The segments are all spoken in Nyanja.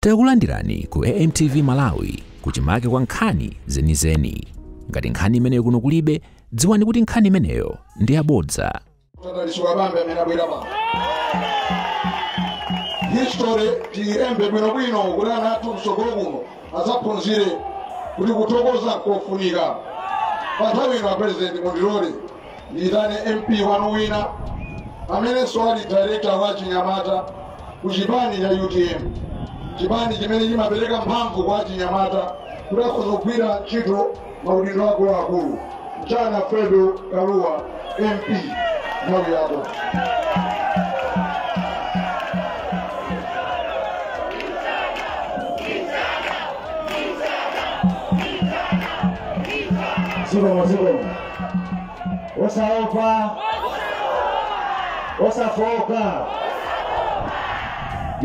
Tikulandirani ku AMTV Malawi kuchimake kwa nkhani zenizeni. Ngati nkhani imeneyo kuno kulibe, dziwani kuti nkhani imeneyo ndi yabodza. Dalitso Kabambe amene abwera pano history tiilembe bwinobwino kuti ana athu mtsogolo kuno adzaphunzire kuti kuthokoza kufunika pa nthawi ino apresidenti mundilole ndiitane mp wanu wina amenenso ali director wa chinyamata ku chipani cha utm chipani chimene chimapereka mphamvu kwa achinyamata kuti akhoza kugwira ntchito maudindo akuluakulu mchana fredo kaluwa mp nthawi yako zikomo zikomo osaopa osafooka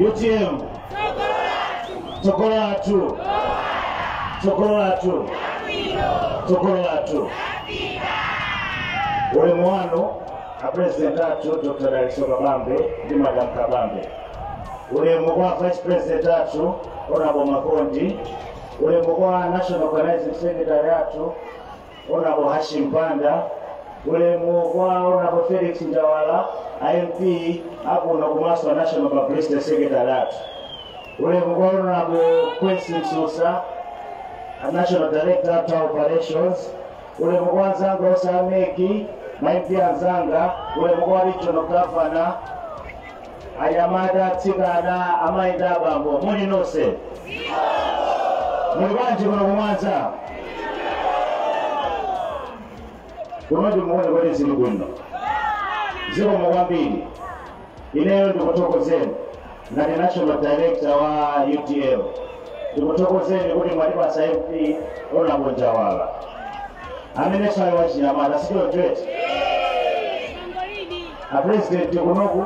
utm tsogolo lathu tsogolo lathu tsogolo lathu ulemu wanu apresident athu dr dalitso kabambe ndi madam kabambe ulemu kwa vice president athu honorable makondi ulemu kwa national organizing secretary athu Honorable Hashim Banda, ulemu kwa Honorable Felix Njawala, a MP akuno komanso National Publicity Secretary athu. Ulemu kwa Honorable Quincy Msusa, a National Director of Operations. Ulemu kwa anzanga osameki, ma MP anzanga, ulemu kwa Regional Governor, anyamata atsikana amayi ndi abambo muli nonse muli bwanji kuno ku mwanza kuno ndimuone kuti zili bwino zikomo kwambiri ineyo ndikuthokozeni ngati national director wa utm ndikuthokozeni kuti mwatipatsa mp honorable njawala amenenso wachinyamata si choncho eti apulezidenti kunoku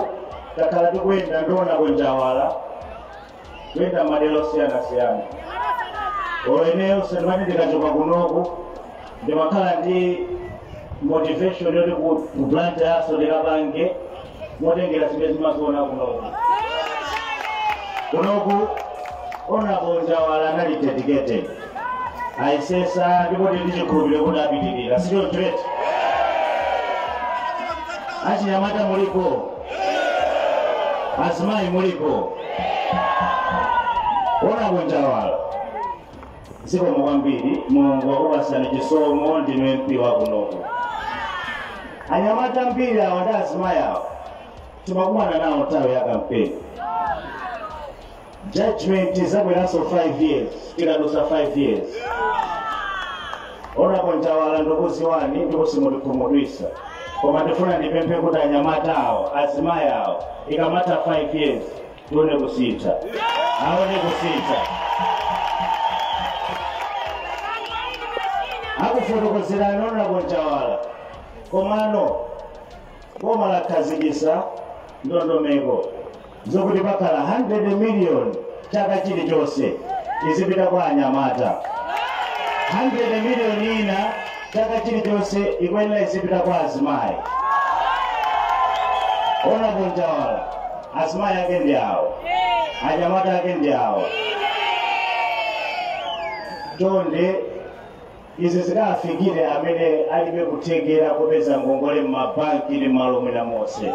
takhala tikuyenda ndi honorable njawala kuyenda madera osiyanasiyana olo ineyo sindimati ndikachoka kunoku ndimakhala ndi motivation yoti ku blantyre nso ndikapange motengera zimene ndimaziona kunoku kunoku honorable njawala anali dedicated ayesetsa ndipo tili ndi chikhulupiriro kuti apitiriza si choncho eti achinyamata mulipo azimayi mulipo honorable njawala zikomo kwambiri mulungu wakupatsani chisomo ndinu mp wakunoku anyamata ambiri awa ndi azimayi awa timakumana nawo nthawi ya kampeni judgment izabweranso 5 years tikadutsa 5 years honorable njawala ndikuziwani ndipo simutikhumudwitsa koma ndifuna ndipemphe kuti anyamata awo azimayi awo ikamatha 5 years tione kusintha aone kusintha akufotokozerani honorable njawala komano boma lakhazikitsa ndondomeko zokuti pakhala 100 million chaka chilichonse izipita kwa anyamata 100 million ina chaka chilichonse ikuyenera izipita kwa azimayi honorable njawala azimayi ake ndi awo anyamata ake ndi awo chonde Izi zikafikire amene alibe kuthekera kopeza ngongole m'mabanki ndi malo ena monse.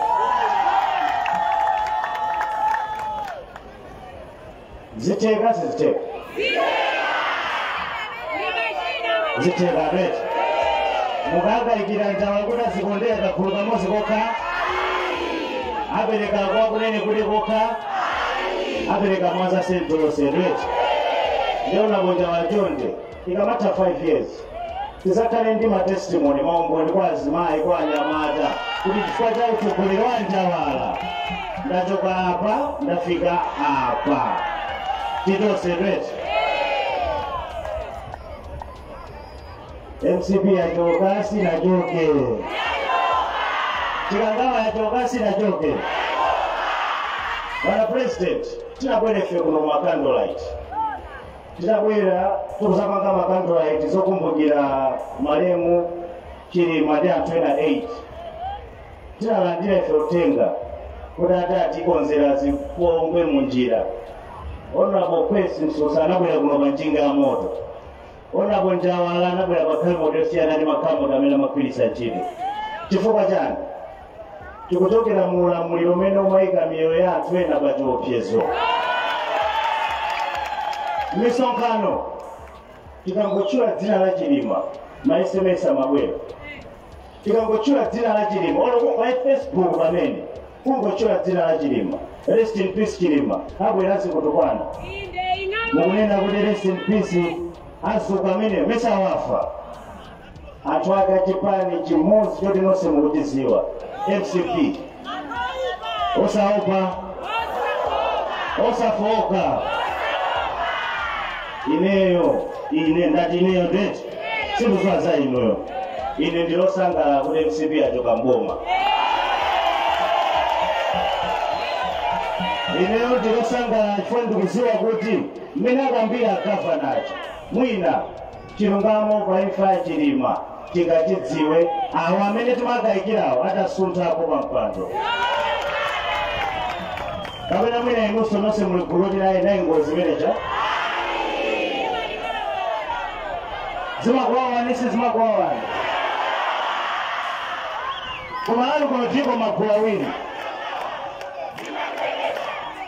Zitheka sizitheka? Zitheka bet. Mukangayikira Njawala kuti azikondera kagulu kamodzi kokha? Apereka kwa Kunenekude kokha? Apereka Mwanza Central yonse bet. Ndiye Honorable Njawala chonde. ikamatha 5 years tidzakhale ndi matestimony maumboni kwa azimayi kwa anyamata kuti chifukwa cha utsogoleri wa njawala ndachoka apa ndafika apa tili tonse eti mcp yachoka sinachoke chikangawa yachoka sinachoke bwana president tinabwerefe kuno mwa candlelight tidabwera kudzapanga ma candlelight zokumbukira malemu chilima ndi anthu ena 8 tidalandira ife uthenga kuti ati atikonzera zipongwe mu njira honorable kwesi msusa anabwera kuno pa njinga ya moto honorable njawala anabwera pa kamoto yosiyana ndi makamoto amene amagwiritsa ntchito chifukwa chani tikuchokera mu ulamuliro umene umayika miyoyo ya anthu ena pa chiopsezo misonkhano tikangotchula dzina la chilima ma sms amabwera tikangotchula dzina la chilima olo pa facebook pamenepo kungotchula dzina la chilima rest in peace chilima abweranso kutukwana mukunena kuti rest in peace azuka amene mesa wafa anthu a kuchipani chimodzi choti nonse mukuchidziwa mcp osaopa osafooka ineyo ine ndati ineyo ndiye sindikuziwa za inuyo ine ndilosangalala kuti mcp yachoka mboma ineyo ndilosangalala chifukwa ndikuziwa kuti mmene akambira a Gavanawo mwina Chilungamo pa imfa ya Chilima tingachidziwe awo amene timakayikirawo atasunthako pa mpando kapena mwina inunso nonse muli gulu loti inali ngozi imeneija zimakuwawani si zimakuwawani koma alipo kuno tili magulu awiri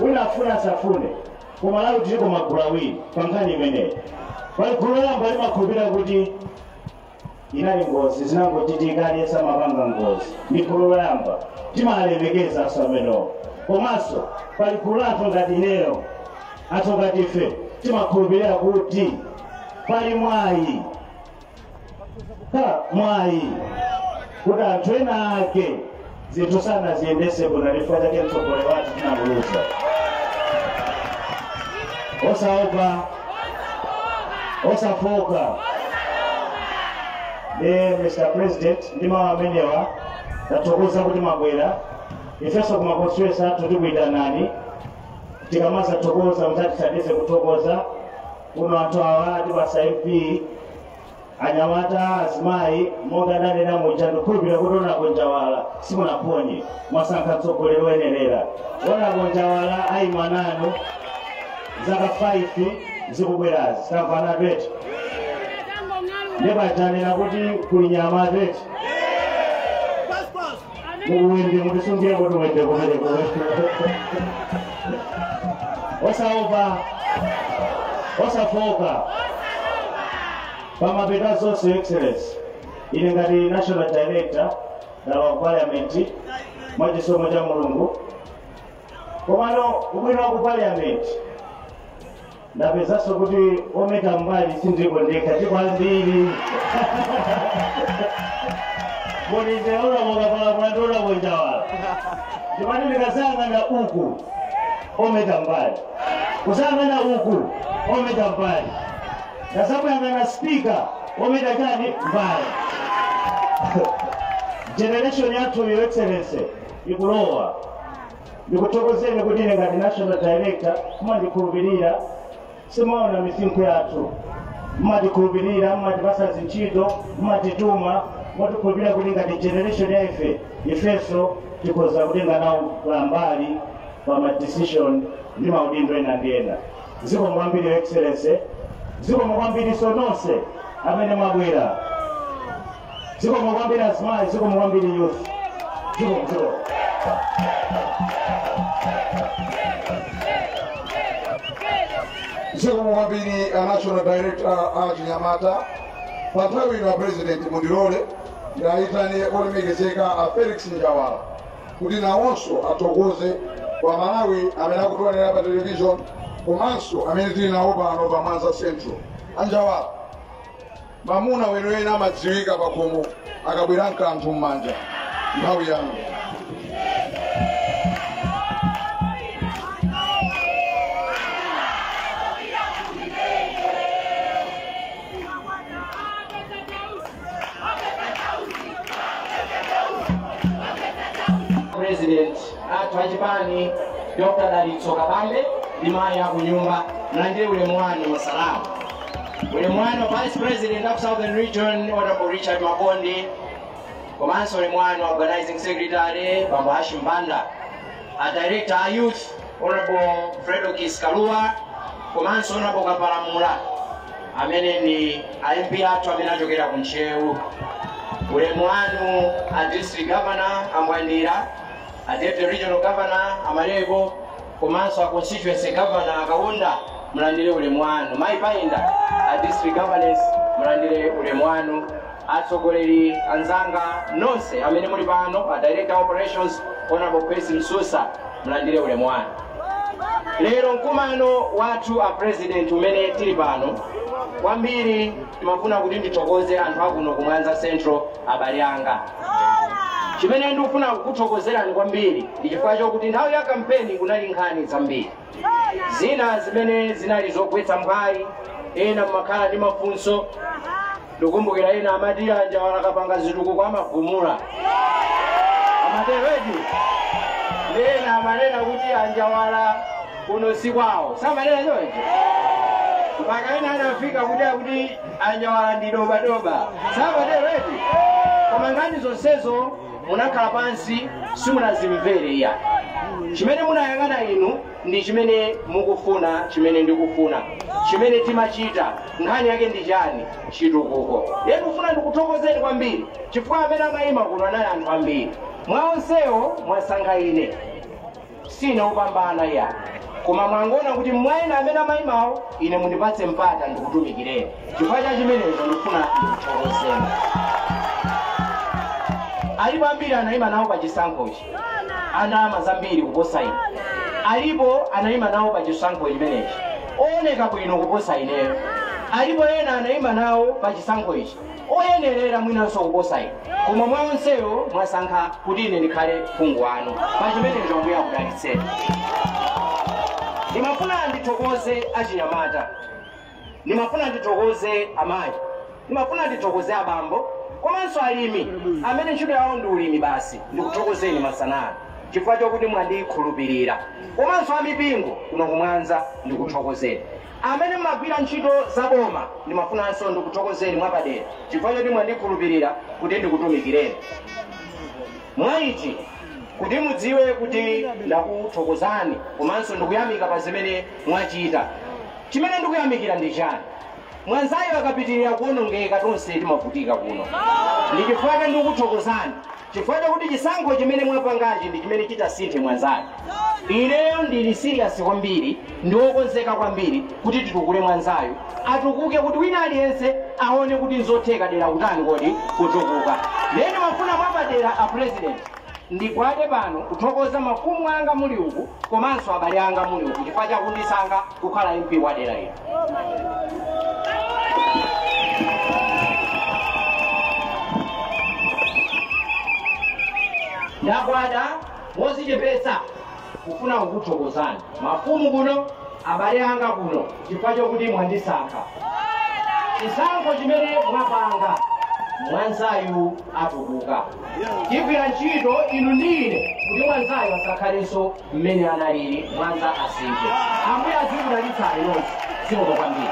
wina afune asafune ku malawi tiliko magulu awiri pa nkhani imeneyi pali gulu loyamba limakhulupirira kuti inali ngozi zinangochitika aliyense amapanga ngozi ndi gulu loyamba timalemekeza anthu amenewo komanso pali gulu la anthu ngati ineyo anthu ngati ife timakhulupirira kuti pali mwayi khala mwayi kuti anthu ena ake zinthu sanaziyendetse bwino chifukwa chake mtsogoleri wathu tinamuluza osaopa osafoka ndiye mr president ndi mawu amenewa tathokoza kuti mwabwera ifenso kuma constituency athu tikuyitanani tikamazathokoza muzatithandize kuthokoza kuno anthu awa atipatsa mp anyamata azimayi monga ndanena muja ndikhulupirira kuti honourable njawala simunaphonye mwasankha mtsogoleri woyenerera honourable njawala ayima nanu zaka 5 zikubwerazi tamvana petu ndipo tanena kuti kuli nyama petu mukuwende mutisungira kuti wende kumene osaopa osafoka pamapeto a zonse excellency ine ngati national director ndalowa ku parliament mwa chisomo cha mulungu komano ubwino wa ku parliament ndapezanso kuti ometa mbali sindili ndekha tilipo ambiri muli ndi honourable mukapalapula ndi honourable njawala ndimati ndikayang'ana uku ometa mbali kuyang'ana uku ometa mbali ndati kuyang'ana speaker ometa chani mbali generation yathu your excellency ikulowa ndikuthokozeni kuti ine ngati national director mumandikhulupirira simumaona misinkhu yathu mumatikhulupirira mumatipasa zintchito mumatituma mumatikhulupirira kuti ngati generation ya ife ifenso tikhoza kutenga nawo mbali pa ma decision ndi maudindo ena ndi ena zikomo kwambiri your excellency zikomo kwambiriso nonse amene mwabwera zikomo kwambiri azimayi zikomo kwambiri youth zikomo zikomo zikomo kwambiri a national director a achinyamata pa nthawi ino a president mundilole ndiyitane olemekezeka a felix njawala kuti nawonso athokoze a malawi amene akutionera pa television komanso amene tili nawo pano pa mwanza central anjawala mamuna weniweni amadziwika pakhomo akabwera n'kanthu m'manja nthawi yanu president athu achipani dr dalitso kabambe ndi mayi akunyumba mlandire ulemu wanu masalamu Ulemu wanu a Vice President of Southern Region Honorable Richard Makondi komanso ulemu wanu Organizing Secretary Bambo Hashim Banda a Director a Youth Honorable Fredo Kilekwa komanso Honorable Kapalamula amene ndi a MP athu amene achokera ku Ntcheu ulemu wanu a District Governor a Mwandira a Deputy Regional Governor Amaleko komanso a constituency governor akaunda mulandire ulemu wanu mayi payinda a district governors mulandire ulemu wanu atsogoleri anzanga nonse amene muli pano a director operations honorable percy msusa mulandire ulemu wanu lero mkumano wathu a president umene tili pano kwambiri timafuna kuti ndithokoze anthu akuno ku mwanza central abale anga chimene ndikufuna kukuthokozerani kwambiri ndi chifukwa chokuti nthawi ya kampeni kunali nkhani zambiri zina zimene zinali zogwetsa mphwayi ena mmakhala ndi mafunso ndikumbukira ena amati anjawala akapanga zitukuko amagumula amatero eti ena amanena kuti anjawala kuno si kwawo samanena choncho mpaka ena anafika kuti akuti anjawala ndi dobadoba samatero eti koma nkhani zonsezo munakhala pansi simunazimvere iya chimene munayang'ana inu ndi chimene mukufuna chimene ndikufuna chimene timachita nkhani yake ndi chani chitukuko ye ndikufuna ndikuthokozeni kwambiri chifukwa amene amayima kuno anali anthu ambiri mwa onsewo mwasankha ine sine wopambana iya koma mwangoona kuti mwa ena amene amayimawo ine mundipatse mpata ndikutumikireni chifukwa cha chimenecho ndikufuna ndikuthokozeni alipo ambiri anayima nawo pa chisankhochi andalama zambiri kuposa ine alipo anayima nawo pa chisankho chimenechi ooneka bwino kuposa ineyo alipo ena anayima nawo pa chisankho ichi oyenerera mwinanso kuposa ine koma mwa onsewo mwasankha kuti ine ndikhale phungu wanu pa chimenecho ambuye akudalitseni ndimafuna ndithokoze achinyamata ndimafuna ndithokoze amayi ndimafuna ndithokoze abambo komanso alimi amene ntchito yawo ndi ulimi basi ndikuthokozeni masana ano chifukwa chokuti mwandikhulupirira komanso amipingo kuno ku Mwanza ndikuthokozeni Amene mumagwira ntchito za boma, ndimafunanso ndikuthokozeni mwapadera chifukwa choti mwandikhulupirira kuti ndikutumikireni. Mwa ichi, kuti mudziwe kuti ndakuthokozani komanso ndikuyamika pa zimene mwachita. Chimene ndikuyamikira ndi chani? Mwanzayu akapitirira kuonongeka tonse timavutika kuno. Ndi chifukwa chake ndikuthokozani. chifukwa chakuti chisankho chimene mwapangachi ndi chimene chitasinthe mwanzayu ineyo ndili siriyasi kwambiri ndi wokonzeka kwambiri kuti titukule mwanzayu atukuke kuti wina aliyense aone kuti nzotheka dera kutani kodi kutukuka lero ndimafuna mwapadera a president ndigwade pano kuthokoza mafumu anga muli uku komanso abale anga muli uku chifukwa chakundisankha kukhala MP wa dera lino. Ndagwada modzichepetsa kufuna kukuthokozani mafumu kuno, abale anga kuno, chifukwa chokuti mwandisankha. Chisankho chimene mwapanga mwanzayu atukuka. Tigwira ntchito inu ndi ine kuti mwanzayu asakhalenso mmene analili mwanza asinthe ambuye azikudalitsani nonse zikomo kwambiri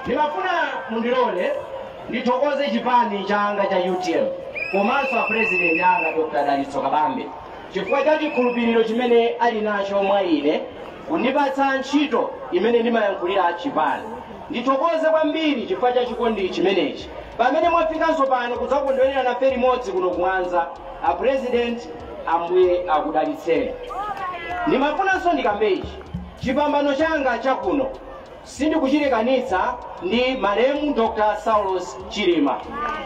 ndimafuna mundilole ndithokoze chipani changa cha utm komanso apurezidenti anga dr dalitso kabambe chifukwa cha chikhulupiriro chimene ali nacho mwa ine kundipatsa ntchito imene ndimayankhulira chipani ndithokoze kwambiri chifukwa cha chikondi chimenechi pamene mwafikanso pano kudzakondwerera nafe limodzi kuno ku mwanza a president ambuye akudalitseni ndimafunanso ndikambe ichi chipambano changa chakuno sindikuchilekanitsa ndi malemu dr saulos chilima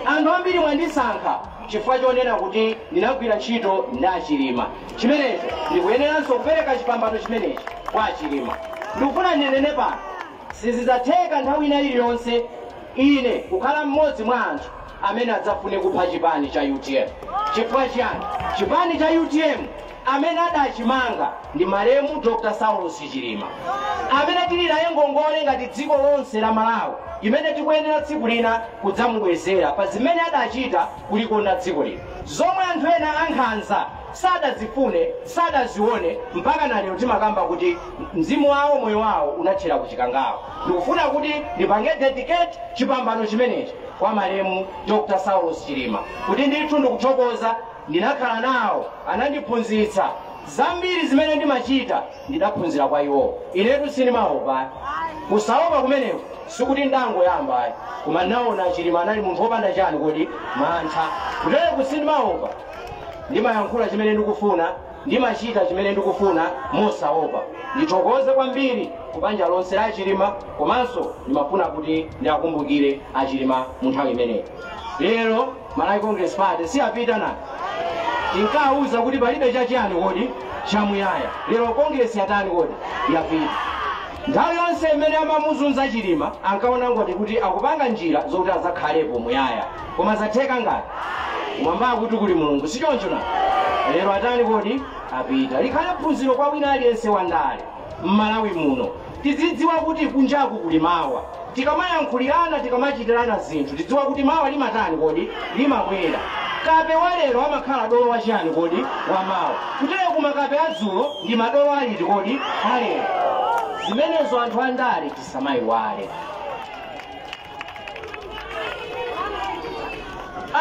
anthu ambiri mwandisankha chifukwa chonena kuti ndinagwira ntchito ndi achilima chimenecho ndikuyeneranso kupereka chipambano chimenechi kwa achilima ndikufuna ndinene pano Sizidzatheka nthawi ina iliyonse ine kukhala mmodzi mwa anthu amene adzafune kupha chipani cha utm. Chifukwa chiyani? Chipani cha utm amene adachimanga ndi malemu Dr Saulos Chilima amene tili naye ngongole ngati dziko lonse la Malawi imene tikuyenera tsiku lina kudzamubwezera pa zimene adachita kulikonda dziko lino zomwe anthu ena ankhanza sadazifune, sadazione mpaka na lero timakamba kuti mzimu wawo moyo wawo unathera ku chikangawa ndikufuna kuti ndipange dedicate chipambano chimenechi kwa malemu dr saulos chilima kuti ndithu ndikuthokoza ndinakhala nawo anandiphunzitsa zambiri zimene ndimachita ndidaphunzira kwa iwowo inetu sindimaopa kusaopa kumeneku sikuti ndangoyamba ayi koma naona chilima anali munthu wopanda chani kodi mantha inetu sindimaopa ndimayankhula chimene ndikufuna ndimachita chimene ndikufuna mosaopa ndithokoze kwambiri ku banja lonse la achilima komanso ndimafuna kuti ndiakumbukire achilima mu nthawi imeneyi lero malawi congress party si yapita nayi tinkawauza kuti palibe chachiyani kodi chamuyaya lero congress yatani kodi yapita nthawi yonse imene amamuzunza chilima ankaona ngati kuti akupanga njira zokuti azakhalepo muyaya koma zatheka ngati kumwambaku kuli mulungu sichoncho nayi lero atani kodi apita likhale phunziro kwa wina aliyense wandale m'malawi muno tizidziwa kuti kunjaku kuli mawa tikamayankhulirana tikamachitirana zinthu tizidziwa kuti mawa limatani kodi limabwera kape wa lero amakhala dolo wachiyani kodi wa mawa kutereku makape adzulo ndi madolo aliti kodi alero zimenezo anthu andale tisamayiwale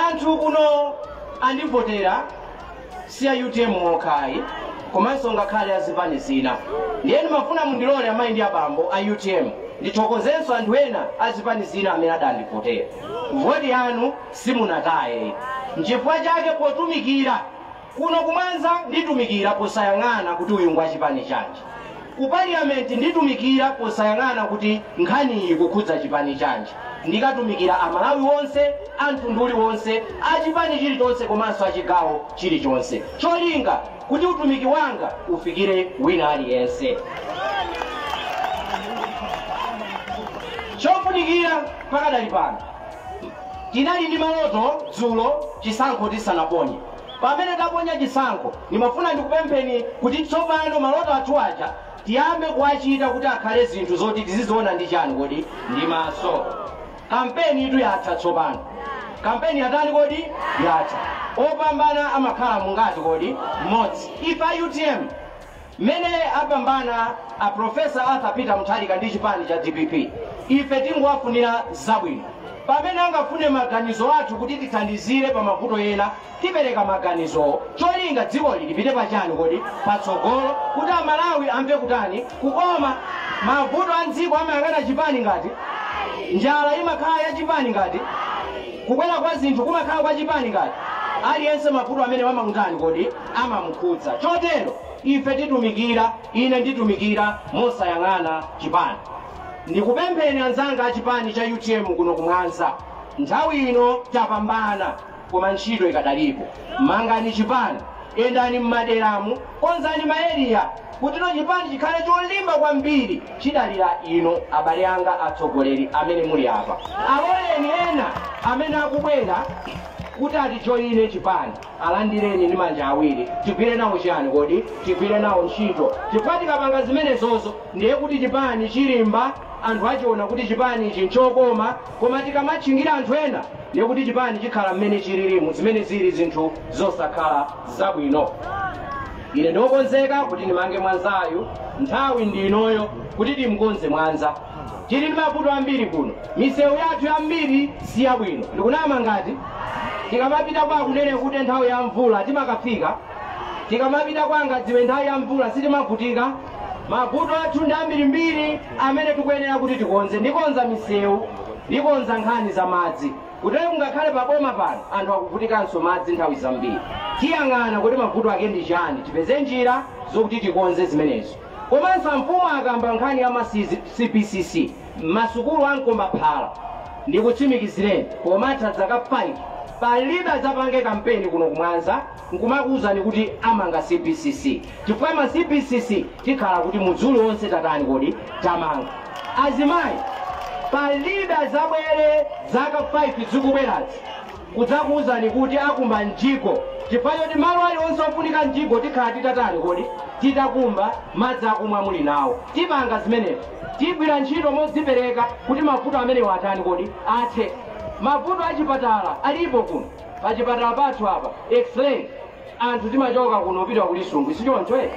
anthu kuno andivotera si a utm okha ayi komanso ngakhale a zipani zina ndiye ndimafuna mundilole amayi ndi abambo a utm ndithokozenso anthu ena a zipani zina amene adandivotera voti yanu simunataye nchifukwa chake potumikira Kuno ku Mwanza nditumikira posayang'ana kuti uyu ngwa chipani chanji. Ku Parliament nditumikira posayang'ana kuti nkhaniyi ikukhudza chipani chanji. Ndikatumikira a Malawi onse, a mtundu uliwonse, a chipani chilichonse komanso a chigawo chilichonse. Cholinga kuti utumiki wanga ufikire wina aliyense. Chofunikira pakadali pano, tinali ndi maloto dzulo chisankho tisanaponye. Pamene taponya chisankho, ndimafuna ndikupempheni kuti tsopano maloto athu aja tiyambe kuwachita kuti akhale zinthu zoti tiziziona ndi chani kodi? Ndi maso. Kampenitu yatha tsopano. Kampeni yatani kodi? Yatha. Opambana amakhala mungati kodi? Mmodzi. Ife a utm. Mmene apambana a Professor Arthur Peter Mutharika ndi chipani cha dpp ife tingowafunira zabwino. Pamene angafune maganizo athu kuti tithandizire pa mavuto ena tipereka maganizowo. Cholinga dzikoli lipite pa chani kodi? Patsogolo kuti Amalawi amve kutani? Kukoma. Mavuto a m'dziko amayang'ana chipani ngati? Njala imakhala ya chipani ngati? Kukwera kwa zinthu kumakhala kwa chipani ngati? Aliyense mavuto amene amamutani kodi? amamukhudza. Chotero ife titumikira, ine nditumikira mosayang'ana chipani. Ndikupempheni anzanga a chipani cha utm kuno ku Mwanza, nthawi ino tapambana koma ntchito ikadalipo. Mangani chipani, yendani m'maderamu, konzani ma area kutino chipani chikhale cholimba kwambiri. Chidalira inu abale anga atsogoleri amene muli apa. Aloleni ena amene akubwera kuti atijoine chipani. Alandireni ndi manja awiri. Tigwire nawo chiyani kodi? Tigwire nawo ntchito. Chifukwa tikapanga zimenezozo ndiye kuti chipani chilimba, anthu achiona kuti chipani ichi nchokoma. Koma tikamatchingira anthu ena ndiye kuti chipani chikhala mmene chilirimu, zimene zili zinthu zosakhala zabwino. Ine ndiokonzeka kuti ndimange Mwanzayu, nthawi ndi inoyo kuti timkonze Mwanza. tili ndi mavuto ambiri kuno misewu yathu yambiri si yabwino ndikunama ngati tikamapita kwa akunene kuti nthawi ya mvula timakafika tikamapita kwa angadziwe nthawi ya mvula sitimavutika mavuto athu ndi ambirimbiri amene tikuyenera kuti tikonze ndikonza misewu ndikonza nkhani za madzi kuti kungakhale paboma pano anthu akuvutikanso madzi nthawi zambiri tiyang'ana kuti mavuto ake ndi chani tipeze njira zokuti tikonze zimenezo Komanso amfumu akamba nkhani ya ma CBCC masukulu a mkombaphala ndikutsimikizireni pomatha zaka 5 palibe adzapange kampeni kuno ku mwanza nkumakuuzani kuti amanga CBCC chifukwa ma CBCC tikhala kuti mudzi uliwonse tatani kodi tamanga. Azimayi palibe adzabwere zaka 5 zikubwerazi. kudzakuuzani kuti akumba mjigo chifukwa choti malo alionse ofunika mjigo tikhala titatani kodi titakumba madzi akumwa muli nawo tipanga zimenezo tigwira ntchito modzipereka kuti mavuto amenewo atani kodi athe mavuto achipatala alipo kuno pachipatala pathu apa x-ray anthu timachoka kuno kupita ku lisungwi sichoncho eh?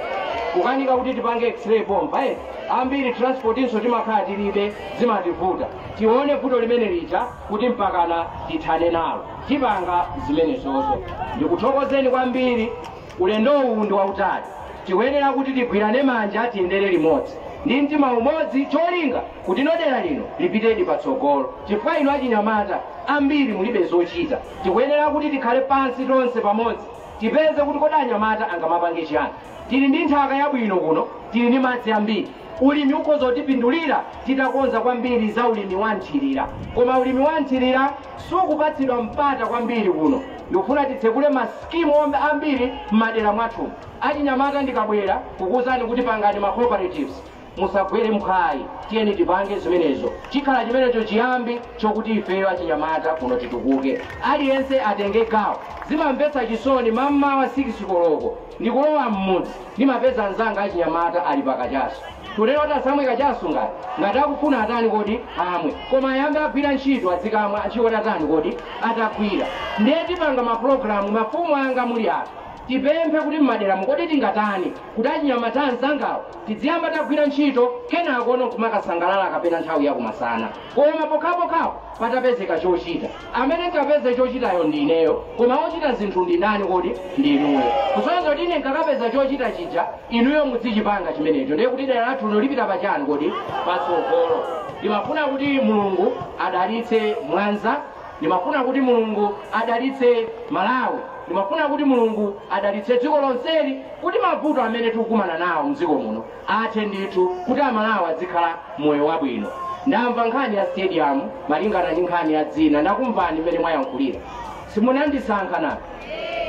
kukanika kuti tipange x-ray pompa eh? ambiri transportinso timakhala tilibe zimativuta tione vuto limene lija kuti mpakana tithane nalo tipanga zimenezozo ndikuthokozeni kwambiri ulendo uwu ndi wautali tikuyenera kuti tigwirane manja tiyendere limodzi ndi mtima umodzi cholinga kutino dera lino lipitedi patsogolo chifukwa inu achinyamata ambiri mulibe zochita Tikuyenera kuti tikhale pansi tonse pamodzi tipeze kuti kodi anyamata angamapanga chiyani. Tili ndi nthaka yabwino kuno, tili ndi madzi ambiri. Ulimi ukhoza kutipindulira titakonza kwambiri za ulimi wa mthirira. Koma ulimi wa mthirira sukupatsidwa mpata kwambiri kuno. Ndikufuna titsekule ma skimu ambiri m'madera mwathu. Achinyamata ndikabwera kukuuzani kuti pangani ma cooperatives. musagwere mphwayi tiyeni tipange zimenezo chikhala chimenecho chiyambi chokuti ifeyo achinyamata kuno titukuke aliyense atenge gawo zimamvetsa chisoni mammawa 6 koloko ndikulowa m'mudzi ndimapeza anzanga achinyamata ali pakachaso tu sindati asamwe kachaso ngati ngati akufuna atani kodi amwe koma ayambe agwira ntchito adzikamwa ntchito atatani kodi atagwira ndiye tipanga mapulogalamu mafumu anga muli apa tipemphe kuti mmaderamu kodi tingatani kuti achinyamata anzangawo Tidziyamba tagwira ntchito kenakono nkumakasangalala kapena nthawi ya kumasana koma pokhapokha patapezeka chochita. Amene ndikapeze chochitayo ndi ineyo koma ochita zinthu ndi ndani kodi? Ndi inuyo. Kusonyeza kuti ine ndikakapeza chochita chija inuyo mudzichipanga chimenecho ndiye kuti dera lathu lino lipita pachani kodi? Patsogolo. Ndimafuna kuti Mulungu adalitse Mwanza Ndimafuna kuti Mulungu adalitse Malawi. Ndimafuna kuti Mulungu adalitse dziko lonseli kuti mavuto amene tikukumana nawo mdziko muno athe ndithu kuti aMalawi adzikhala moyo wabwino. Ndamva nkhani ya stadium malingana ndi nkhani ya dzina ndakumvani mmene mwayankhulira. Simunandisankha nanga?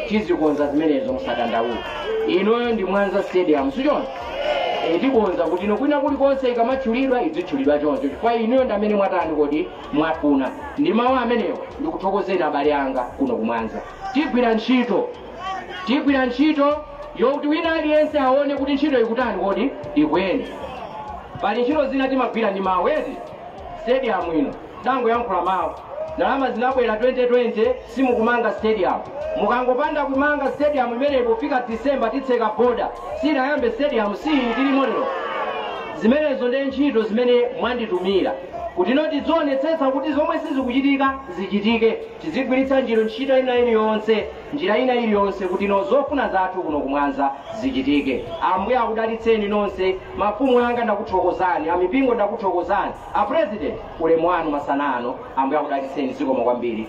Tizikonza zimenezo musadandaule. Inoyo ndi Mwanza stadium sichoncho? Ee tikonza kuti ino kwina kulikonse ikamatchulidwa idzitchulidwa choncho chifukwa inuyo ndi amene mwatani kodi Mwafuna. Ndi mawu amenewo, ndikuthokozeni abale anga kuno ku Mwanza. Tigwira ntchito. Tigwira ntchito yokuti wina aliyense aone kuti ntchito ikutani kodi? Ikuyenda. Pali ntchito zina timagwira ndi mawu eti? Stadium ino ndangoyankhula mawu. Ndalama zinabwera 2020 simukumanga stadium. Mukangopanda kumanga stadium imeneyi pofika December titseka border. Sinayambe stadium si tilimo lero. Zimenezo ndi ntchito zimene mwanditumira. kutino tidzionetsetsa kuti zomwe sizikuchitika zichitike tizigwiritsa njira ntchito ina iliyonse njira ina iliyonse kutino zofuna zathu kuno kumwanza zichitike ambuye akudalitseni nonse mafumu anga ndakuthokozani amipingo ndakuthokozani a president ulemu wanu masana ano ambuye akudalitseni zikomo kwambiri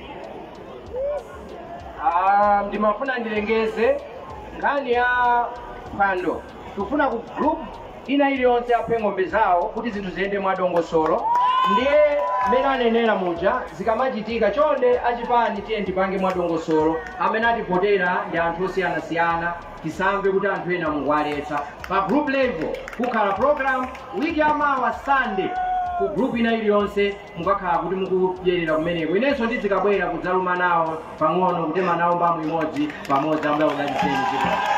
Ah, ndimafuna ndilengeze nkhani ya phwando tikufuna ku group ina iliyonse aphe ng'ombe zawo kuti zinthu ziyende mwadongosolo ndiye mmene anenera muja zikamachitika chonde achipani tiye tipange mwadongosolo amene ativotera ndi anthu osiyanasiyana tisamve kuti anthu ena mukuwaletsa pa group level kukhale program wiki yamawa sunday ku group ina iliyonse Mukakhala kuti mukudyerera kumeneko, inenso ndidzikabwera kudzaluma nawo pang'ono, kutema nawo mbamu imodzi pamodzi. Ambuye akudalitseni. Zikomo.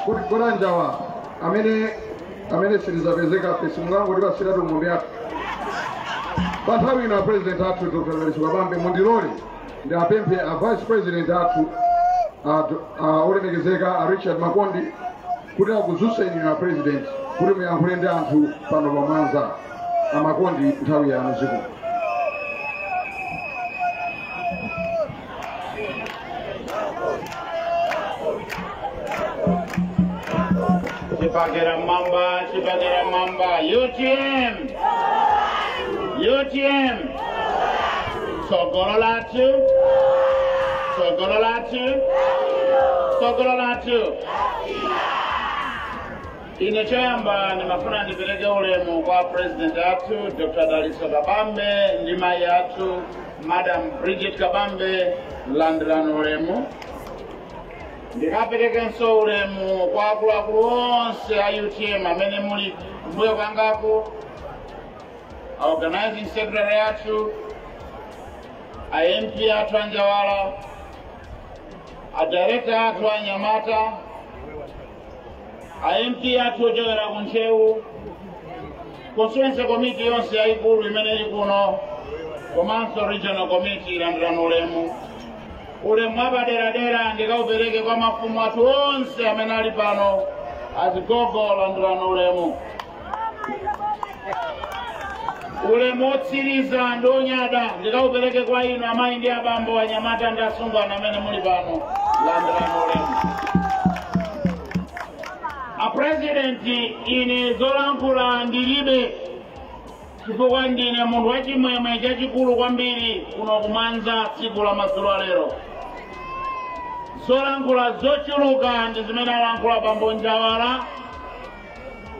kuti kwa a Njawala amene amene silizapezeka pesi mungangoti basiratu ng'ombe yake pa nthawi ino a president athu dr dalitso kabambe mundilole ndiwapemphe a vice president athu a, a olemekezeka a richard makondi kuti akudzutseni inu a president kuti muyankhule ndi anthu pano pa mwanza a makondi nthawi yanu zikomo Chipani ilipo mwamba, chipani ilipo mwamba. UTM. UTM. Tsogolo lathu. Tsogolo lathu. Tsogolo lathu. ine choyamba ndimafuna ndipereke ulemu kwa president athu dr dalitso kabambe ndi mayi athu madam bridget kabambe landirani ulemu ndikaperekenso ulemu kwa akuluakulu onse a utm amene muli mbuyo kwangaku a organizing secretary athu a mp athu a njawala a director athu a anyamata a mp athu ochokera ku ntcheu constituency committee yonse yayikulu imene ili kuno komanso regional committee landirani ulemu ulemu wapaderadera ndikaupereke kwa mafumu athu onse amene ali pano azigogo landirani ulemu ulemu otsiriza ndi onyada ndikaupereke kwa inu amayi ndi abambo anyamata ndi asungwana amene muli pano landirani ulemu apurezidenti ine zolankhula ndilibe chifukwa ndine munthu wachimwemwe chachikulu kwambiri kuno kumwanza tsiku la madzulo alero zolankhula zochuluka ndi zimene alankhula bambo njawala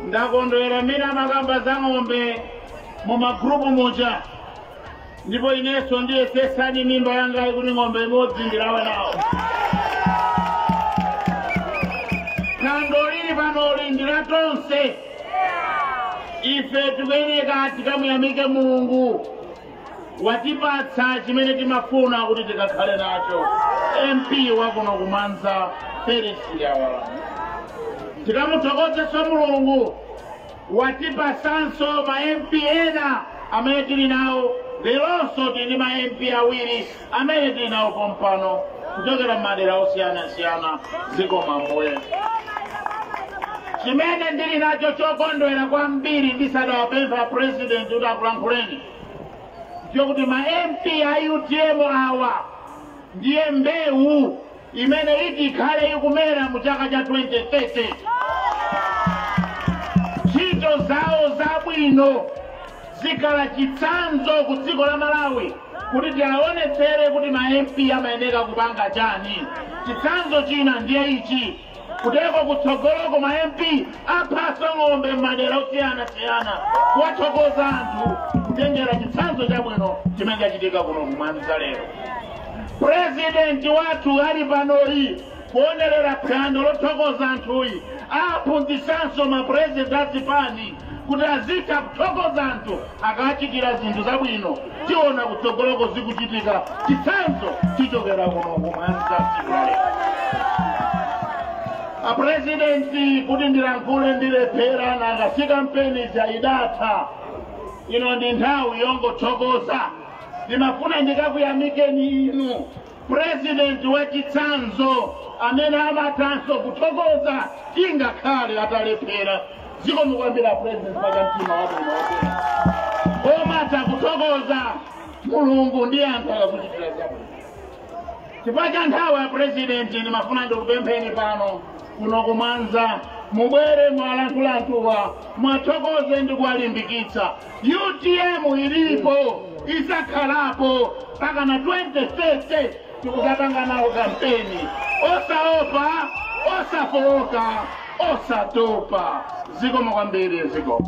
ndakondwera mmene mumakamba za ng'ombe mu magrupu muja ndipo inenso ndiyetsetsani mimba yangayi kuti ng'ombe imodzi ndilawe nawo phwando lili panoli ndi la tonse ife tikuyeneka tikamuyamike mulungu watipatsa chimene timafuna kuti tikakhale nacho mp wakuno kumwanza felix njawala tikamuthokozenso mulungu watipatsanso ma mp ena amene tili nawo leronso tili ndi ma mp awiri amene tili nawo pompano kuchokera m'madera osiyanasiyana zikomo ambuye chimene ndili nacho chokondwera kwambiri ndisadawapempha president kuti akulankhuleni chokuti ma mp a utm awa ndiye mbewu imene iti ikhale ikumera mu chaka cha 2030. Ntchito zawo zabwino zikhala chitsanzo ku dziko la Malawi kuti tiaonetsere kuti ma MP amayenera kupanga chani. Chitsanzo china ndiye ichi. Kuteko kutsogoloko ma MP aphanso ng'ombe m'madera osiyanasiyana kuwathokoza anthu kutengera chitsanzo chabwino chimene chachitika kuno ku Mwanza lero. President wathu ali panoyi kuonerera phwando lothokoza anthuyi aphunzitsanso ma president a zipani. kuti azitha kuthokoza anthu akachitira zinthu zabwino tiona kutsogoloko zikuchitika chitsanzo chichokera kuno kumwanza tsiku la lero apurezidenti kuti ndilankhule ndilephera nanga si kampeni idatha ino ndi nthawi yongothokoza ndimafuna ndikakuyamikeni inu President wachitsanzo amene amathanso kuthokoza ingakhale atalephera. Zikomo kwambiri a President pa cha mtima wabwino. Omatha kuthokoza Mulungu ndi anthu akakuchitira zabwino. Chifukwa cha nthawi a President ndimafuna ndikupempheni pano kuno ku mwanza mubwere muwalankhule anthuwa muwathokoze ndi kuwalimbikitsa utm ilipo izakhalapo mpakana 2030 tikuzapanga nawo kampeni osaopa osafooka osatopa zikomo kwambiri zikomo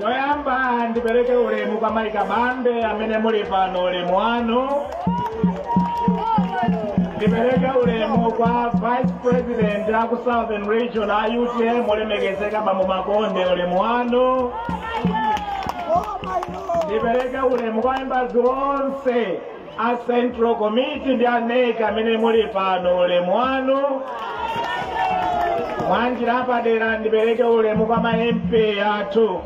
choyamba ndipereke ulemu kwa mayi kabambe amene muli pano ulemu wanu ndipereke ulemu kwa vice president a ku southern region a utm olemekezeka bambo makonde ulemu wanu ndipereke ulemu kwa members onse a central committee ndi a nec amene muli pano ulemu wanu mwanjira apadera ndipereke ulemu kwa ma mp athu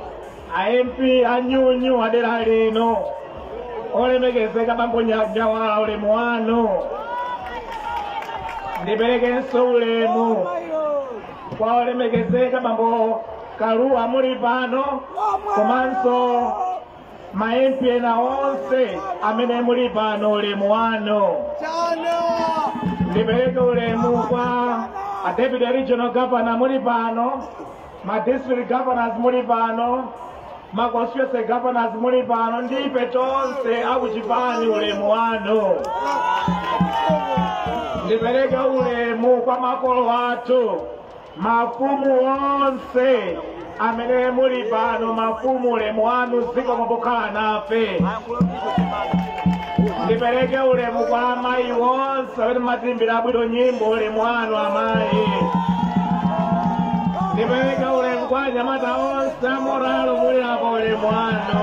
a mp anu adera lino olemekezeka bambo njawala ulemu wanu ndiperekenso ulemu kwa olemekezeka bambo kaluwa muli pano komanso ma MP ena onse amene muli pano ulemu wanu ndipereke ulemu kwa a deputy regional governor muli pano ma district governors muli pano ma constituency governors muli pano ndi ife tonse akuchipani ulemu wanu ndipereke ulemu kwa makolo athu mafumu onse amene muli pano mafumu ulemu wanu zikomo pokhala nafe ndipereke ulemu kwa amayi onse amene mwatiimbira bwino nyimbo ulemu wanu amayi ndipereke ulemu kwa anyamata onse a morale muli apo ulemu wanu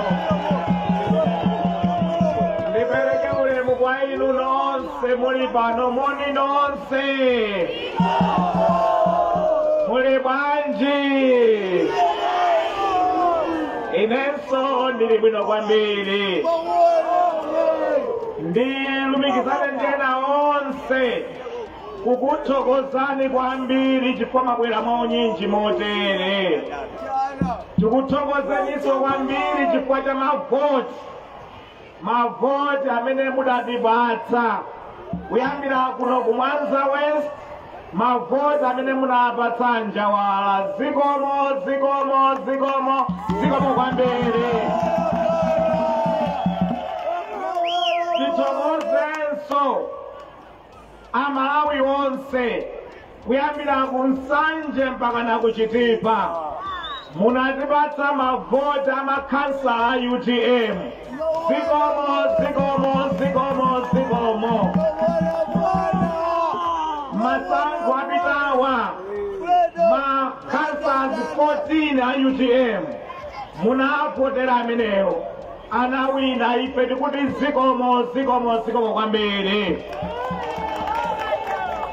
ndipereke ulemu kwa inu nonse Se muli pano moni nonse. Muli bwanji. Inenso ndili bwino kwambiri. Ndilumikizane ndena onse kukuthokozani kwambiri chifukwa mwabwera mwa unyinji motere. Tikuthokozeninso kwambiri chifukwa cha mavoti mavoti amene mudatipatsa kuyambira kuno ku mwanza west mavoti amene munapatsa njawala zikomo zikomo zikomo zikomo kwambiri tithokozenso amalawi onse kuyambira ku nsanje mpaka na ku chitipa munatipatsa mavoti amakhansala a utm zikomo zikomo zikomo zikomo masankho apitawa makhansala 14 a utm munavotera amenewo anawina ife tikuti zikomo zikomo zikomo kwambiri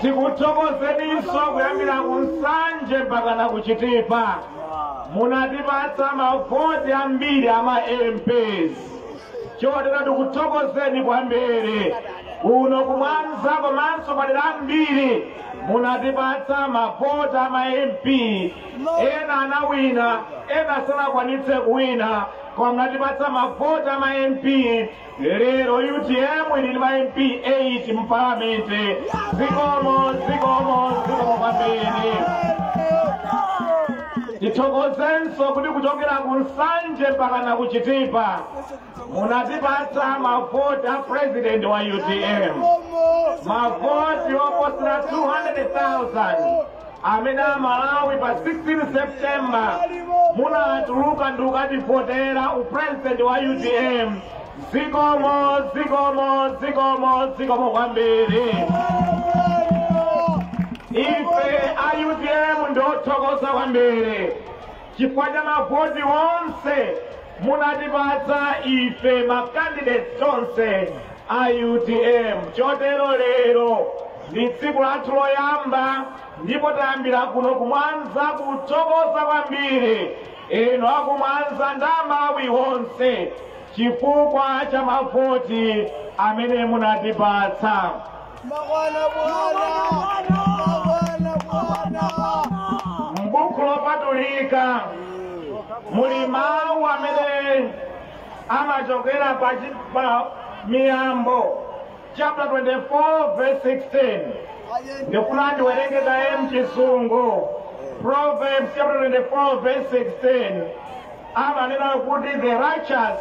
tikuthokozeninso kuyambira ku nsanje mpaka na kuchitipa munatipatsa mavoti ambiri ama mps chotero tikuthokozeni kwambiri kuno kumwanza komanso madera ambiri munatipatsa mavoti ama mp ena anawina ena sanakwanitse kuwina koma munatipatsa mavoti a ma mp lero utm ili ndi ma mp 8 mu palamenti zikomo zikomo zikomo kwambiri tithokozenso kuti kuchokera ku nsanje mpaka na kuchitipa munatipatsa mavoti a president wa utm mavoti oposera 200,000 amene amalawi pa 16 september munatuluka ndikukativotera upresident wa utm zikomo zikomo zikomo zikomo kwambiri ife a utm ndi othokoza kwambiri Chifukwa cha mavoti onse munatipatsa ife ma candidates tonse a utm chotero lero ndi tsiku lathu loyamba ndipo tayambira kuno kumwanza kuthokoza kwambiri inu akumwanza ndi amalawi onse chifukwa cha mavoti amene munatipatsa m'buku lopatulika muli mawu amene amachokera pa chi- pa miyambo chapter 24 verse 16 ndikuna ndiwerenge kaye mchisungu proverbs chapter 24 verse 16 amanena kuti the righteous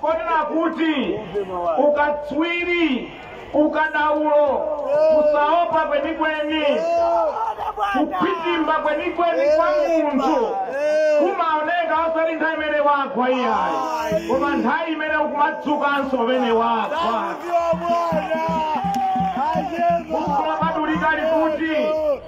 ponena kuti ukatswiri ukadaulo kusaopa kwenikweni kukhutimba kwenikweni kwa munthu kumaoneka osati nthawi imene wagwa iyayi koma nthawi imene akumadzukanso pamene wagwa Buku la Katolika likuti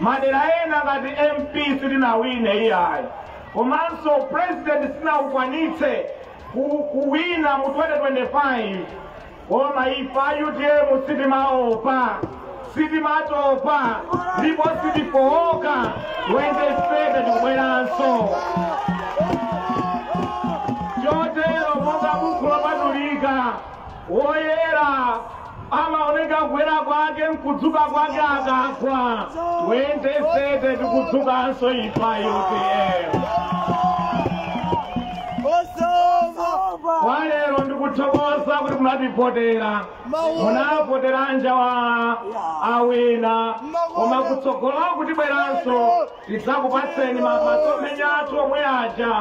Madera ena ngati MP sitinawine iyayi komanso President sitinakwanitse kuwina mu 2025 koma ife a utm sitimaopa sitimatopa ndipo sitifowoka 2030 tikubweranso chotero monga buku lopatulika Woyera amaoneka kuyera kwake mkudzuka kwake akagwa 2030 tikudzukanso ife a utm kwalero ndikuthokoza kuti munativotera munavotera a Njawala awina koma kutsogolo tikubweranso tidzakupatseni masomphenya athu omwe aja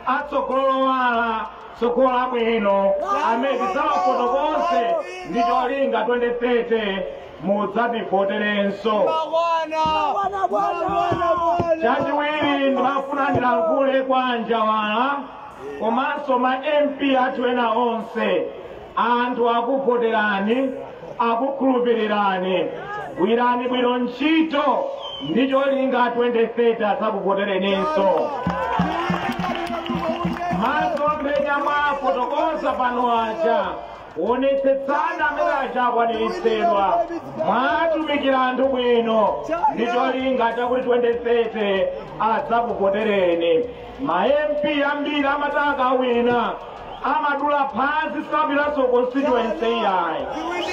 atsogolo lowala tsogolo labwino amene tidzawafotokoze ndi cholinga 2030 mudzativoterenso chachiwiri ndimafuna ndilankhule kwa a Njawala komanso ma mp athu ena onse anthu akuvoterani akukhulupirirani gwirani bwino ntchito ndi cholinga 2030 adzakuvotereninso masomphenya mwafotokoza pano aja onetsetsani amenewa aja akwaniritsidwa mwatumikira anthu bwino ndi cholinga chakuti 2030 adzakuvotereni ma mp ambiri amati akawina amadula phazi sapiranso constituency iyayi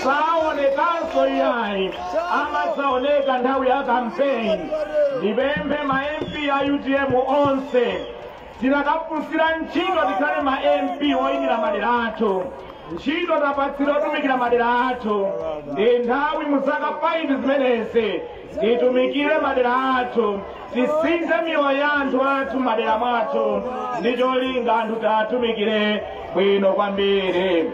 saonekanso iyayi amadzaoneka nthawi ya kampeni ndipemphe ma mp a utm onse tinakafunsira ntchito tikhale ma mp oyimira madera athu ntchito tapatsidwa yotumikira madera athu ndi nthawi mu zaka 5 zimenezi titumikire madera athu tisinthe miyoyo ya anthu athu madera mwathu ndi cholinga anthu tiwatumikire bwino kwambiri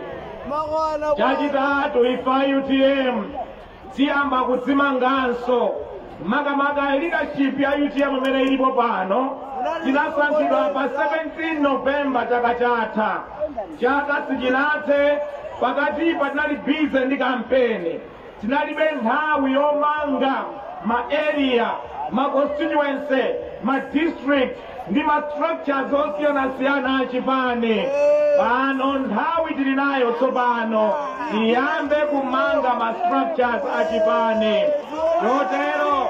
chachitatu ife a utm tiyamba kudzimanganso makamaka leadership ya utm imene ilipo pano tinasankhidwa pa 17 novemba chaka chatha chaka sichinathe pakatipa tinali bize ndi kampeni Tinalibe nthawi yomanga ma area, ma constituency, ma district ndi ma structures osiyanasiyana a chipani. Pano nthawi tili nayo tsopano tiyambe kumanga ma structures a chipani. Chotero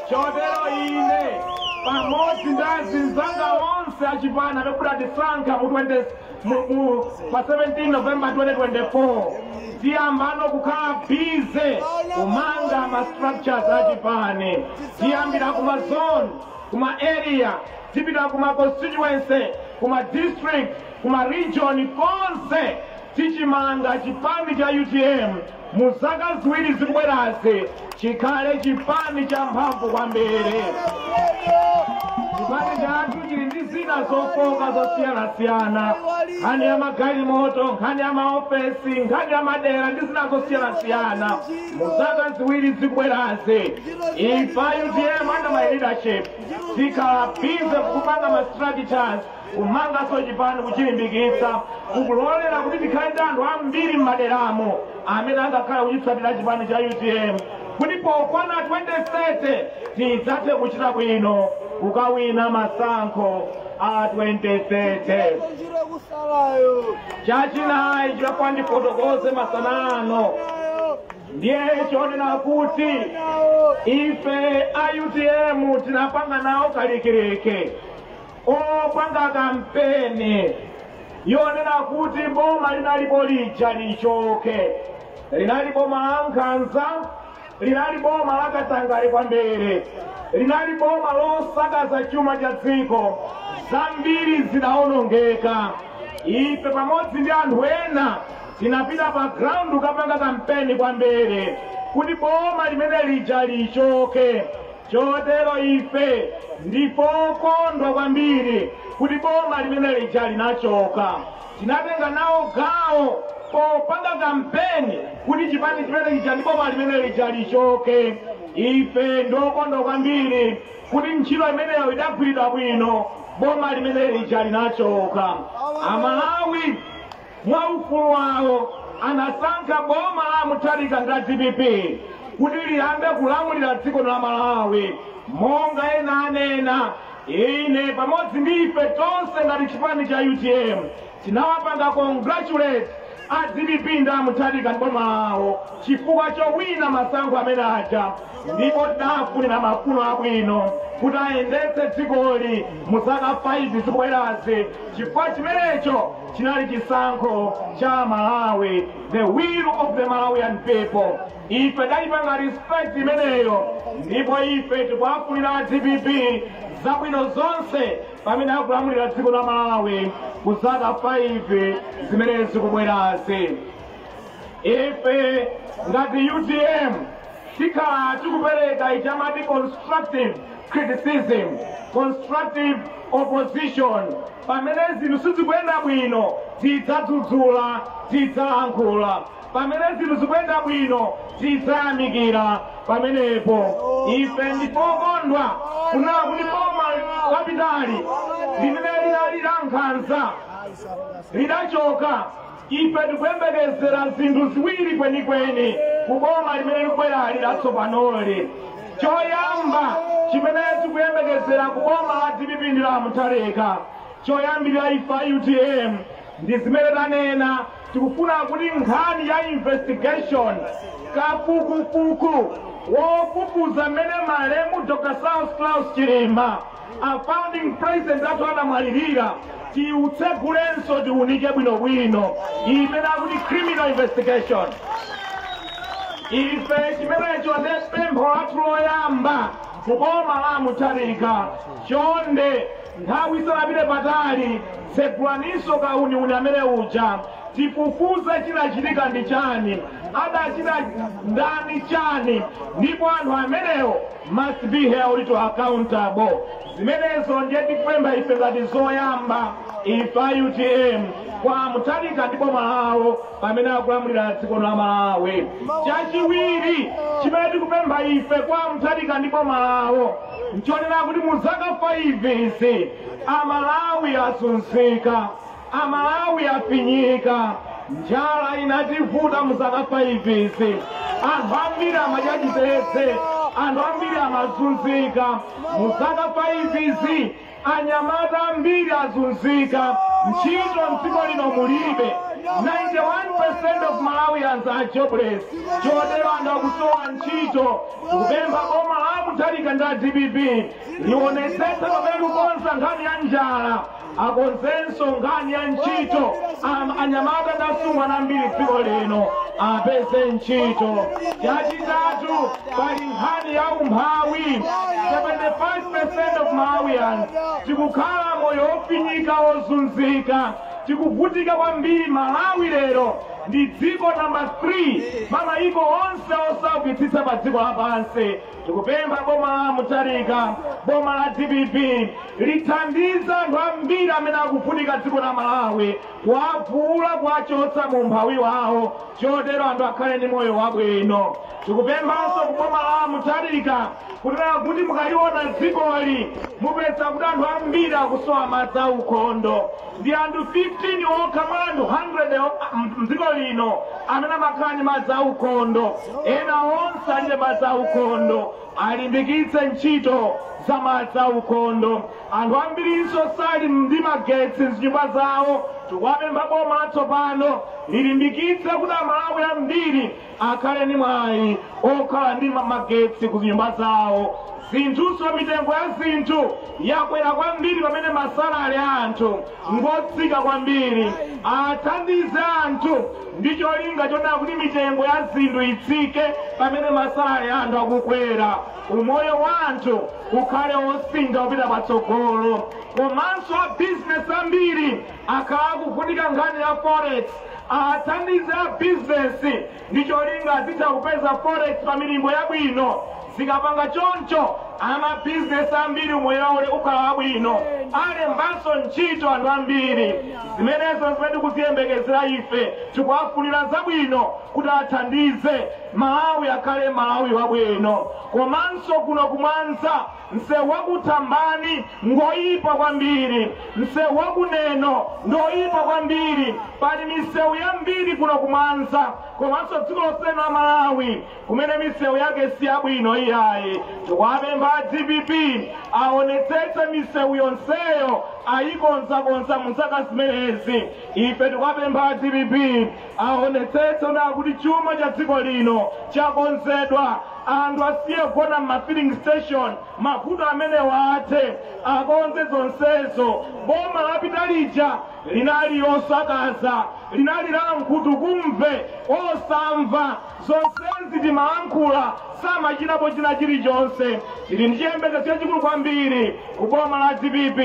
chotero ine pamodzi ndi azinzanga onse achipani amene adatisankha mu 20 muku pa 17 november 2024 tiyambano kukhala bize kumanga ma structures achipani tiyambira kuma zone kuma area tipita kuma constituency kuma district kuma region konse tichimanga chipani cha utm mu zaka ziwiri zikubwerazi chikhale chipani champhamvu kwambiri chipani chathu chili ndi zina zofoka zosiyanasiyana nkhani ya magalimoto nkhani ya maofesi nkhani ya madera ndi zina zosiyanasiyana mu zaka ziwiri zikubwerazi ife a utm under my leadership tikhala bize kupanga ma strategies kumanganso chipani kuchilimbikitsa kukulolera kuti tikhale ndi anthu ambiri m'maderamo amene angakhale kuchitsatira chipani cha utm kuti pokwana 2030 tidzathe kuchita bwino kukawina masankho a 2030 chachinayi choti ndifotokoze masana ano ndiye chonena kuti ife a utm tinapanga nawo kalikiliki opanga kampeni yoonetsa kuti boma linalipo lija lichoke linali boma la nkhanza linali boma la katangale kwambiri linali boma losakaza chuma cha dziko zambiri zidawonongeka ife pamodzi ndi anthu ena tinapita pa ground kukapanga kampeni kwambiri kuti boma limene lija lichoke Chotero ife ndi okondwa kwambiri kuti boma limene lija linachoka. Tinatenga nawo gawo popanga kampeni kuti chipani chimene chija ndi boma limene lija lichoke. Ife ndi okondwa kwambiri kuti ntchito imeneyo idagwiridwa bwino, boma limene lija linachoka. Amalawi Mwa ufulu wawo anasankha boma la a Mutharika ndi a dpp kuti liyambe kulamulira dziko la Malawi. Monga ena anena, ine pamodzi ndi ife tonse ngati chipani cha utm tinawapanga congratulate a dpp ndi a Mutharika ndi boma lawo chifukwa chowina masankho amene aja ndipo tidawafunira mafuno abwino kuti ayendetse dzikoli mu zaka 5 zikubwerazi chifukwa chimenecho chinali chisankho cha amalawi the will of the malawian people ife tidayipanga respect imeneyo ndipo ife tikuwafunira a dpp zabwino zonse pamene akulamulira dziko la malawi kuzaka 5 zimene zikubwerazi ife ngati utm tikhala tikupereka ija amati constructive criticism constructive opposition pamene zinthu sizikuyenda bwino tidzadzudzula tidzalankhula pamene zinthu zikuyenda bwino tidzayamikira pamenepo ife ndi okondwa kunena kuti boma lapitali limene linali la nkhanza lidachoka Ife tikuyembekezera zinthu ziwiri kwenikweni ku boma limene likubwerali latsopanoli. Choyamba chimene tikuyembekezera ku boma la dpp ndi la a Mutharika, choyambirira ife a utm ndi zimene tanena, tikufuna kuti nkhani ya investigation, kafukufuku wofufuza mmene malemu Dr. Saulos Klaus Chilima a founding president athu anamwalirira tiutsegulenso tiunike bwinobwino imene akuti criminal investigation ife chimenecho ndi pempho lathu loyamba kuboma la a mutharika chonde nthawi isanapite patali tsegulaninso kauniuni amene uja tifufuze chinachitika ndi chani adachita ndani chani ndipo anthu amenewo must be held to accountable zimenezo ndiye tikupempha ife ngati zoyamba ife a utm kwa a mutharika ndi boma lawo pamene akulamulira dziko la malawi chachiwiri chimene tikupempha ife kwa a mutharika ndi boma lawo nchonena kuti mu zaka 5 izi amalawi azunzika Amalawi afinyika, njala inativuta muzaka 5 izi, anthu ambiri amadya chitedze, anthu ambiri amazunzika muzaka 5 izi, anyamata ambiri azunzika, ntchito mdziko lino mulibe. 91% of Malawians are jobless. Chotero anthu akusowa ntchito, tikupempha boma la a Mutharika ndi a DPP lionetsetse pamene likukonza nkhani ya njala akonzenso nkhani ya ntchito anyamata ndi asungwana ambiri mdziko lino apeze ntchito chachitatu pali nkhani ya umphawi 75% of malawians tikukhala moyo wofinyika wozunzika tikuvutika kwambiri malawi lero ndi dziko namba 3 pa mayiko onse osaukitsitsa pa dziko lapansi tikupempha boma la a mutharika boma la dpp lithandize anthu ambiri amene akuvutika mdziko la malawi kuwavuula kuwachotsa mu umphawi wawo chotero anthu akhale ndi moyo wabwino tikupemphanso ku boma la a mutharika kunena kuti mukaliona dzikoli mupeza kuti anthu ambiri akusowa madzi aukhondo Ndi anthu 15 okha mwa anthu 100 m'dziko lino amene amakhala ndi madzi aukhondo. Ena onse alibe madzi aukhondo. Alimbikitse ntchito za madzi aukhondo. Anthu ambirinso sali ndi magetsi m'zinyumba zawo. Tikuwapempha boma latsopano lilimbikitse kuti Amalawi ambiri akhale ndi mwayi okhala ndi magetsi ku zinyumba zawo zinthunso mitengo ya zinthu yakwera kwambiri pamene masalale a anthu ngotsika kwambiri athandize anthu ndi cholinga chonena kuti mitengo ya zinthu itsike pamene masalale a anthu akukwera umoyo wa anthu ukhale osintha kupita patsogolo komanso a bizinesi ambiri akhala akuvutika nkhani ya forex Athandize a bizinesi ndi cholinga azitha kupeza forex pa milingo yabwino. Zikapanga choncho, amabizinesi ambiri umoyo wawo ukhala wabwino, alembanso ntchito anthu ambiri. Zimenezo nzimene tikuziyembekezera ife. Tikuwafunira zabwino kuti athandize Malawi akhale Malawi wabwino. Komanso kuno ku Mwanza Msewu wa ku Thambani ngoyipa kwambiri, msewu wa ku Neno ngoyipa kwambiri. Pali misewu yambiri kuno ku Mwanza komanso dziko lonse la Malawi kumene misewu yake si yabwino iyayi. Tikuwapempha a dpp aonetsetse misewu yonseyo ayikonzakonza mu zaka zimenezi. Ife tikuwapempha a dpp aonetsetse kuti chuma cha dziko lino chakonzedwa Anthu asiye kugona m'ma filling station, mavuto amenewa athe, akonze zonsezo. Boma lapita lija linali losakaza, linali la nkhutukumve, osamva. Zonsezi timalankhula, samachitapo china chilichonse. Tili ndi chiyembekezo chachikulu kwambiri ku boma la dpp,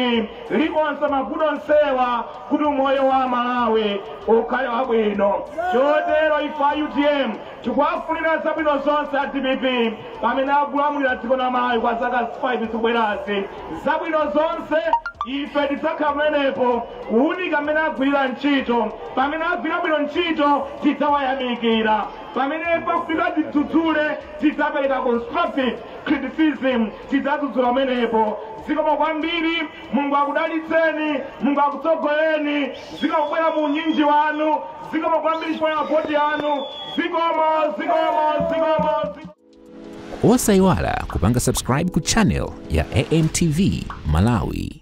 likonza mavuto onsewa kuti umoyo wa Amalawi ukhale wabwino. Chotero ife a utm Tikuwafunira zabwino zonse a dpp pamene akulamulira dziko la Malawi kwa zaka 5 zikubwerazi. Zabwino zonse ife tidzakhala pamenepo kuunika mmene agwirira ntchito. Pamene agwirira bwino ntchito tidzawayamikira. Pamene pafunika tidzudzule tidzapereka constructive criticism tidzadzudzula pamenepo. Zikomo kwambiri mulungu akudalitseni mulungu akutsogoleni zikomo kubwera mu unyinji wanu zikomo kwambiri chifukwa cha voti yanu zikomo zikomo zikomo zikomo. osayiwala kupanga subscribe ku channel ya amtv malawi